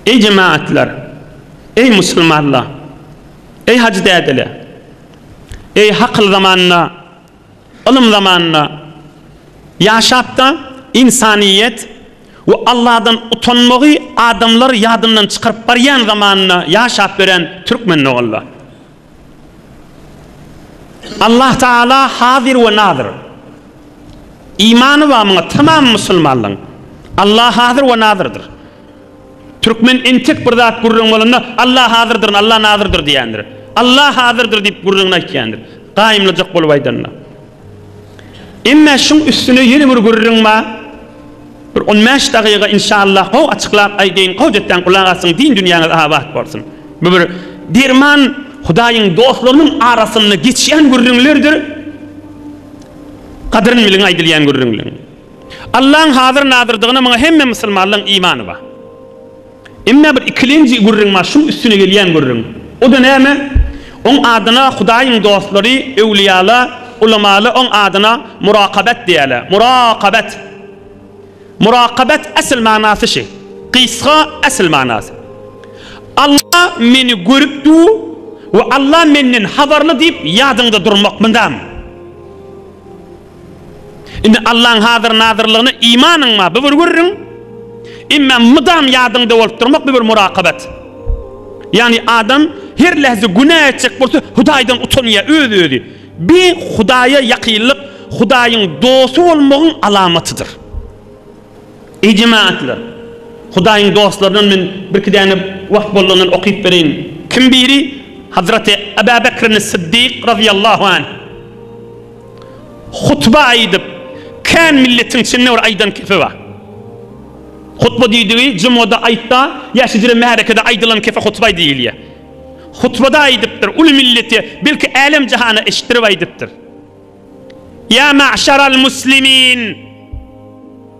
Eý jemagatlar! Eý musulmanlar! Eý hajy dädeler! Eý hakyl zamanynda, ylym zamanynda ýaşap-da ynsanyýet we Alladan utanmagy adamlar ýadyndan çykaryp barýan zamanynda ýaşap ýören türkmen doganlar! Allah Taala Hazyr we Nazyr. Imany bar muňa tamam musulmanlaň. Allah Hazyr we Nazyrdyr. Türkmen entek bir zat gürrüň bolanda Allah Hazyrdyryn, Allah Nazyrdyr diýendir. Allah Hazyrdyr diýip gürrüňini aýtýandyr. Gaýymlyjak bolup aýdanda. Emmä şuň üstüne ýene bir gürrüň bar. Bir on bäş dagyga inşallah gowy açyklap aýdaýyn, gowy ýetseň gulak assyň, din dünýäňiz abat bolsun. Bu bir derman Hudaýyň dostlarynyň arasynda geçýän gürrüňlerdir. Gadryn biliň aýdylýan gürrüňleriň. Allaň hazyr-nazyrdygyna muňa hemme musulmanlaň imany bar. Emma bir ikilenji gürrüň bar, şuň üstüne gelýän gürrüň. O-da näme? Oň adyna Hudaýyň dostlary, öwlüýala, ulamala oň adyna Murakabat diýýärler. Murakabat. Murakabat esl manasy şi. Gysga esl manasy. Alla meni görüp dur we Alla menden habarly diýip ýadyňda durmak myndamy? Indi Allaň hazyr-nazyrlygyna imanyň bar, bu bir gürrüň. Emma mydam ýadyňda bolup durmak, bu bir murakabat. Ýagny adam her lähze günä etjek bolsa, Hudaýdan utanýar, öz-özi. Bi Hudaýa ýakynlyk, Hudaýyň dosty bolmagyň alamatydyr. Eý jemagatlar! Hudaýyň dostlaryndan men birki däne wagt boldugyndan okyp bereýin. Kim biri Hazraty Ebäbekrin-i Syddyk razyýallahu anh. Hutba aýdyp, kän milletiň içinde bir aýdan kepe bar. Hutba diýdigi jumada, aýtda, ýa hijre märekede aýdylan kepe hutba diýilýär. Hutbada aýdypdyr, uly millete, belki älem-jahana eşitdirip aýdypdyr. Ýa mäşeral muslimin!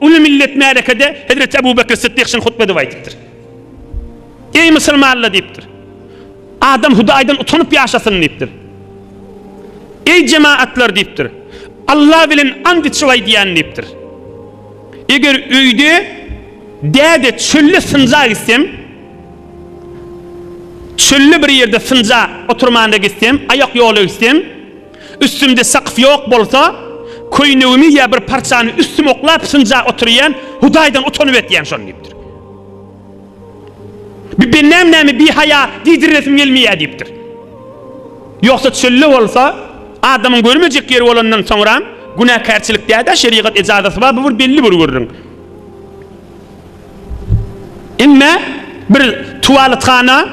Uly millet märekede hezreti Abu Bekr Sytdyk şun hutbede aýdypdyr. Eý musulmanla diýipdir. Adam Hudaýdan utanyp ýaşasyn diýipdir. Eý jemaatlar diýipdir. Allah bilen and içip aýdýan diýipdir. Eger öýde däde çölde synja gitsem, çölde bir ýerde synja oturmana gitsem, aýak ýola gitsem, Üstümde sakyf ýok bolsa, köýnegimi ýa bir parçany üstüme oklap synjap otyrýan, Hudaýdan utanyp etýän şony diýipdir. Bir bennäm näme bihaýa diýdirresim gelmeýär diýipdir. Ýogsa çölde bolsa, adamyň görmejek ýeri bolandan soňram, günäkärçilik däl-ä, şerigat ejazasy bar, bu bir belli bir gürrüň. Emme bir tuwaletkana,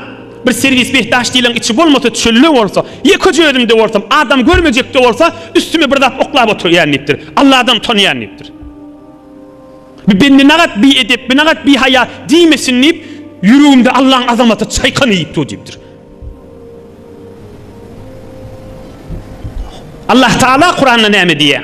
bir serwis behdaş diýleň içi bolmasa, çölde bolsa, ýekeje özümde bolsam, adam görmejekde bolsa, üstüme bir zat oklap oturýan diýipdir. Alladan utanýan diýipdir. Bu bendenagat, biedep, binagat, bihaýa diýmesin diýip, ýüregimde Allaň azamaty çaýkany iýip dur diýipdir. Allah Taala Kuranda näme diýýär?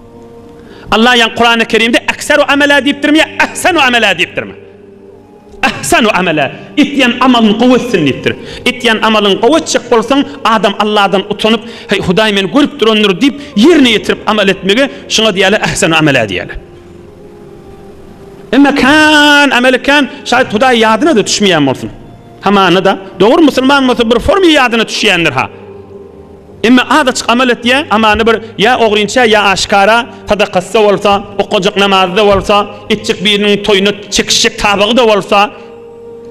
Allah ýan Kurany Kerimde ekseru amela diýipdirmi ýa ehsenu amela diýipdirmi? Ehsenu amela, etýän amalyny gowy etsin diýipdir. Etýän amalyny gowy etjek bolsaň, adam Allahdan utanyp, heý Hudaý meni görüp durandyr diýip, ýerine ýetirip amal etmegi şuňa diýýärler ehsenu amela diýýärler. Emma kän ameli kän, şaýat Hudaý ýadyna-da düşmeýän bolsun. Hamana-da, dogry musulman bolsa bir formy ýadyna düşýändir-ha. Emma az açyk amal etýä, amany bir ýa ogrynça ýa aşkara, sadakasy-da bolsa, okajak namazy-da bolsa, etjek biriniň toýuna çekişjek tabagy-da bolsa,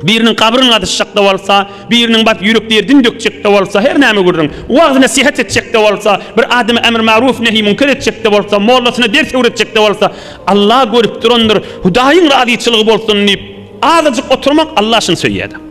biriniň gabryny gazyşjak-da bolsa, biriniň baryp ýürek derdini dökjek-de bolsa, her näme gürrüň, wagyz-nesihat etjek-de bolsa, bir adama ämr maruf nehy münker etjek-de bolsa, mollasyna ders öwretjek-de bolsa, Alla görüp durandyr, Hudaýyň razyçylygy bolsun diýip, azajyk oturmak Alla şuny söýýä-de.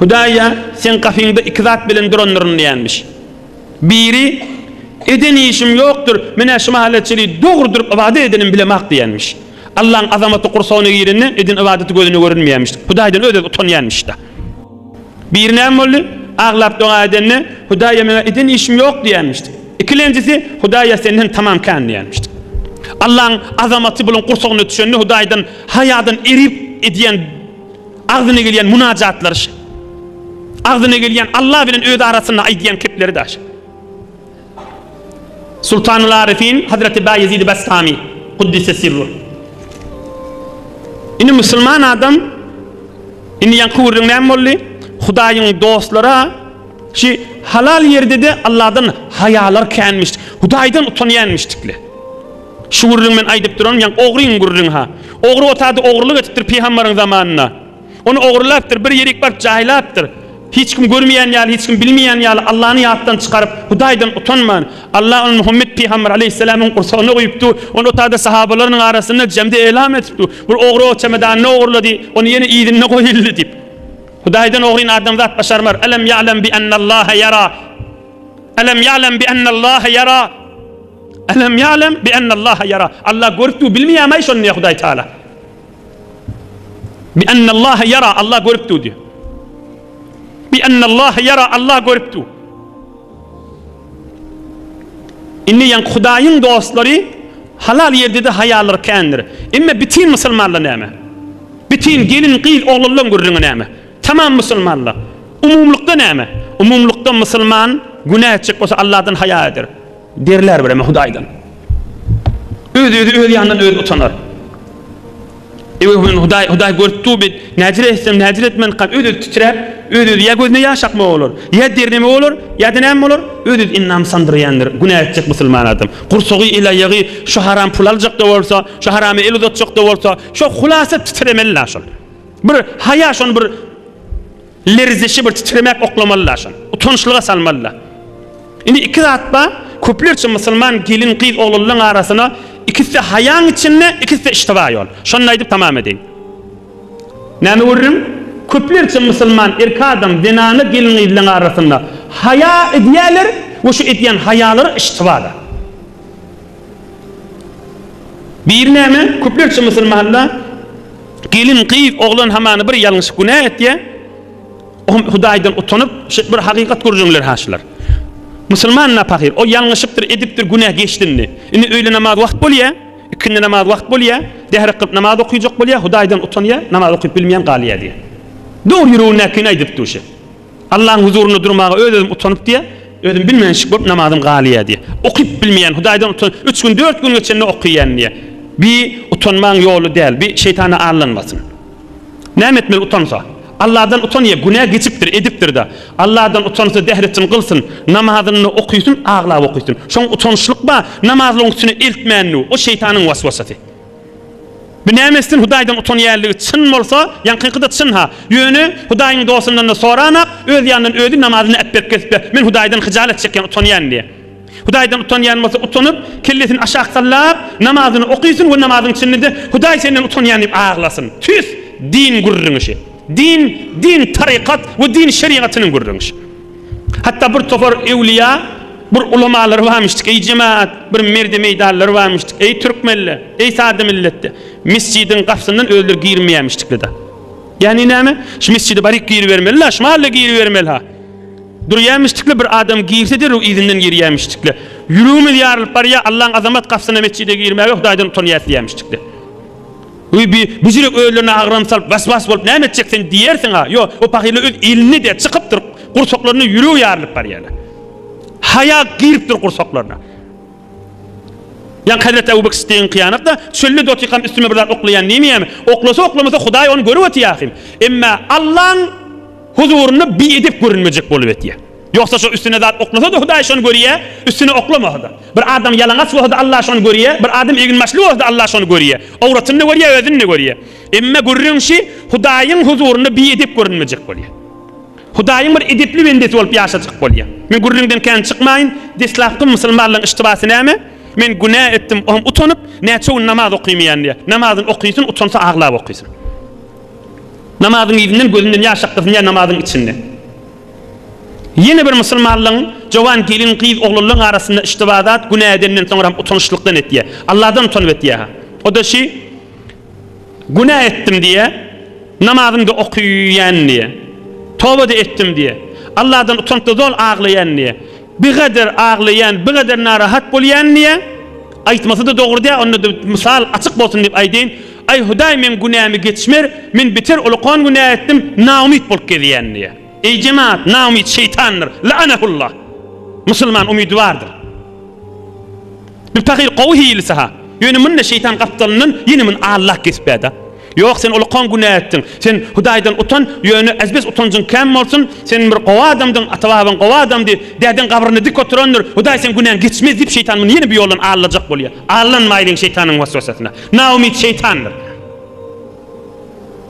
Hudaýa seň gapyňda iki zat bilen durandyryn diýenmiş. Biri, Eden işim ýokdur, menä şu mahala çenli dogry durup ybadat edenim bilemok diýenmiş. Allaň azamaty gursagyna girende eden ybadaty gözüne görünmeýänmiş. Hudaýdan öz-öz utanýanmyş-da. Biri näme boldy? Aglap doga edende, Hudaýa meň eden işim ýok diýenmiş. Ikilenjisi, Hudaýa senden tamam kän diýenmiş. Allaň azamaty buluň gursagyna düşende Hudaýdan haýadan erip edýän Agzyna gelýän munajatlary şa. Agzyna gelýän Alla bilen özi arasynda aýdýan kepleri da şa. Sultanul Arifin Hazreti Baýezid Bastami Kuddise sirru. Indi musulman adam indi ýaňky gürrüň näme boldy? Hudaýyň dostlary şu halal ýerde-de Alladan haýalar känmiş, Hudaýdan utanýanmyşdykle. Şu gürrüň men aýdyp duran ýaň ogryň gürrüňha. Ogry otady ogrylyk etipdir pygambaryň zamanynda. Ony ogrylapdyr bir ýerik baryp jaýlapdyr. Hiç kim görmeýän ýaly hiç kim bilmeýän ýaly Allany ýatdan çykaryp Hudaýdan utanman Alla ony Muhammet pygambar aleýhissalamyň gursagyna goýupdy. Ony otady sahabalarynyň arasynda jemde elam etipdi. Bir ogry o çemedanyny ogurlady. Ony ýene yzynda goýuldy diýip. Hudaýdan ogryny adamzat başarmar. Elem ýa'lem bi ennallâhe ýera. Elem ýa'lem bi ennallâhe ýera. Elem ýa'lem bi ennallaha ýara. Alla görüpdigi bilmeýärmi-aý şony diýýär Hudaý Tagala. Bi ennallaha ýara, Alla görüpdigi diýýär. Bi ennallaha ýara, Alla görüpdigi. Indi ýaňky Hudaýyň dostlary halal ýerde-de haýalary kändir. Emma bitin musulmanlar näme? Bitin gelin, gyz, oglanlaryň gürrüňi näme? Tamam musulmanlar. Umumlykda näme? Umumlykda musulman günä etjek bolsa Alladan haýa eder. Derler bireme Hudaýdan. Öz-özi öz ýanyndan özi utanar. Ewe men Hudaý, Hudaý görüp dur bet, näcir etsem, näcir etmän kal, öz-özi titräp, öz-özi ýa gözüne ýaş akma bolar, ýa derneme bolar, ýa-da näme bolar, öz-özi endam sandyrýandyr, günä etjek musulman adam. Gursagy, el-aýagy şu haram pul aljak-da bolsa, şu harama el uzatjak-da bolsa, şo hulasa titremeli-la şol. Bir haýa şony bir. Lerzişi bir titremek oklamaly-la şony. Utançlyga salmaly-la. Indi iki zat bar, köplerçe musulman gelin-gyz, oglanlaň arasyna ikisi-de haýaň içinde, ikisi-de iştiba ýol. Şony-da aýdyp tamam edeýin. Näme görüriň? Köplerçe musulman erki adam, zenany gelin-gyzlaň arasynda haýa edýärler we şu edýän haýalary iştiba-da. Biri näme, köplerçe musulmanda gelin, gyz, oglan hamana bir ýalňyşyp günä etýä, o hem Hudaýdan utanyp, şeýdip bir hakykat görjeňler ha şular. Musulman napakyr, o ýalňyşypdyr, edipdir, günä geçdi indi. Indi öýle namaz wagt bolýa, ikindi namaz wagt bolýa, dehre kylyp namaz okuyjak bolýa, Hudaýdan utanýa, namaz okuyup bilmeýän galýa diýýä. Dogry ýüregindäkini aýdypdyr şe. Allaň huzurynda durmaga öz-özüm utanyp diýýä, özüm bilmänçik bolup namazym galýa diýýä. Okyp bilmeýän, Hudaýdan utan, üç gün, dört gün geçende okaýan diýýä. Bi utanmaň ýoly däl, bi şeýtana aldanmasyn. Näme etmeli utansa? Allahdan utanýa, günä geçipdir, edipdir-de. Allahdan utansa dehretin gylsyn, namazyny okysyn, aglap okysyn. Şoň utançlyk bar, namazlygyň üstüne eltmändu, o şeýtanyň waswasasy. Binämesden Hudaýdan utanýanlygy çyn bolsa, ýaňkyňky-da çyn-ha. Ýöne, Hudaýyň dostundan-da soranak, öz ýanyndan özi namazyny äpberk gezip-de, Men Hudaýdan hyjalat çekýän, utanýan diýýä. Hudaýdan utanýan bolsa, utanyp, kellesini aşak sallap, namazyny okysyn we namazyň içinde-de, Hudaý senden utanýan diýip aglasyn. Tüss, din gürrüňişi. Din, din tarykat we din şerigatynyň gürrüňişi. Hatda bir topar ewliýa, bir ulamalar barmyşdyk, eý jemaat, bir merde meýdanlar barmyşdyk, eý türkmenler, eý sada milletde, mesjidiň gapsyndan özleri girmeýärmişdikle-de. Ýagny näme? Şu mesjide baryk giribermeli-la, şu mahalla giribermeli-ha. Durýarmyşdykla bir adam girse derrew yzyndan girýärmişdikle. Ýüregimiz ýarylyp barýar, Allaň azamat gapsyna mesjide girmäge Hudaýdan utanýas diýýärmişdikle. Wiý, bi büjürek özlerine agram salyp, was-was bolup näme etjek sen diýersiň-a? Ýo, o pahyrlar öz elinde-de çykypdyr, gursaklaryna ýüregi ýarylyp barýarlar. Haýa giripdir gursaklaryna. Ýaňky hezreti Abu Bekr Siddigiň kyýanatda çölde dotykam üstüme bir zat oklaýan diýmeýärmi? Oklasa-oklamasa Hudaý ony görüp otyýar ahym. Emma Allaň huzurynda bi edep görünmejek bolup etýär. Ýogsa şo üstüne zat oklasa-da Hudaý şony görýä, üstüne oklamasa-da. Bir adam ýalaňaç bolsa-da Allah şony görýä, bir adam egin-başly bolsa-da Allah şony görýä. Owratyny-da görýä, özüni-de görýä. Emma gürrüň şi, Hudaýyň huzurynda biedep görünmejek bolýa. Hudaýyň bir edepli bendesi bolup ýaşajak bolýa. Men gürrüňden kän çykmaýyn, deslapky musulmanlaryň yştybasy näme? Men günä etdim, o hem utanyp, näçe gün namaz okymaýan diýä. Namazyny okysyn, utansa aglap okysyn. Namazyň yzyndan gözünden ýaş akdysyn diýä namazyň içinde. Ýene bir musulmanlygyň jowan gelin gyz oglanlaň arasynda iştiba zat günä edenden soňra hem utanyşlykdan etýä. Allahdan utanyp etýä-ha. O-da şi, Günä etdim diýä, namazym-da okyýän diýä. Toba-da etdim diýä. Allahdan utanyp-da zol aglaýan diýä. Bigader aglaýan, bigader narahat bolýan diýä. Aýtmasy-da dogry däl, onda-da mysal açyk bolsun diýip aýdaýyn. Aý, Hudaý, meň günämi geçiber, men beter ulukan günä etdim, naumyt bolup gezýän diýýär. Eý, jemaat, naumyt şeýtandyr, laanahullah! Musulman umydybardyr. Bu pahyr gowy hilisi-ha. Ýöne muny-da şeýtan gapdalyndan ýene muny Allah kesipä-dä. Ýok, sen ulukan günä etdiň. Sen Hudaýdan utan, ýöne ezbes utanjyň kän bolsun, sen bir gowy adamdyň, ata-babaň gowy adamdy, dädeň gabrynda dik oturandyr, Hudaý seň günäňi geçmez diýip, şeýtan muny ýene bu ýoldan allajak bolýar. Aldanmaýlyň şeýtanyň waswasasyna. Naumyt şeýtandyr.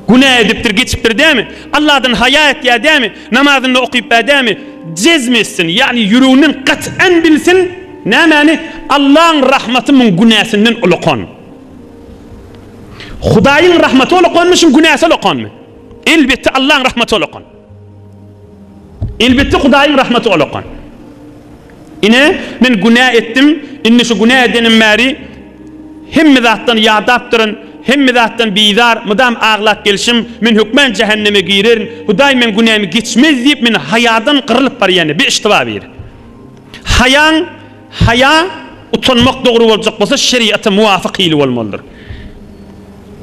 Günä edipdir, geçipdir dämi? Allahdan haýa etýär dämi? Namazynda okyp bä dämi? Jezm etsin, ýagny ýüreginden gat'an bilsin, nämäni? Allaň rahmaty muň günäsinden ulakan. Hudaýyň rahmaty ulakanmy, şuň günäsi ulakanmy? Elbetde Allaň rahmaty ulakan. Elbetde Hudaýyň rahmaty olakan. Ine, men günä etdim, indi şu günä edenim bäri hemme zatdan ýadapdyryn, hemme zatdan bizar, mydam aglap gelşim, men hökman jähenneme girerin, Hudaý meň günämi geçmez diýip, men haýadan gyrylyp barýan, bi iştiba bir. Haýaň, haýa, utanmak dogry boljak bolsa, şeriata muwafyk hili bolmalydyr.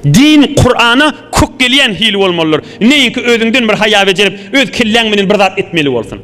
Din Kurana kök gelýän hili bolmalydyr. Neýinki özüňden bir haýa bejerip, öz kelläň menen bir zat etmeli bolsun.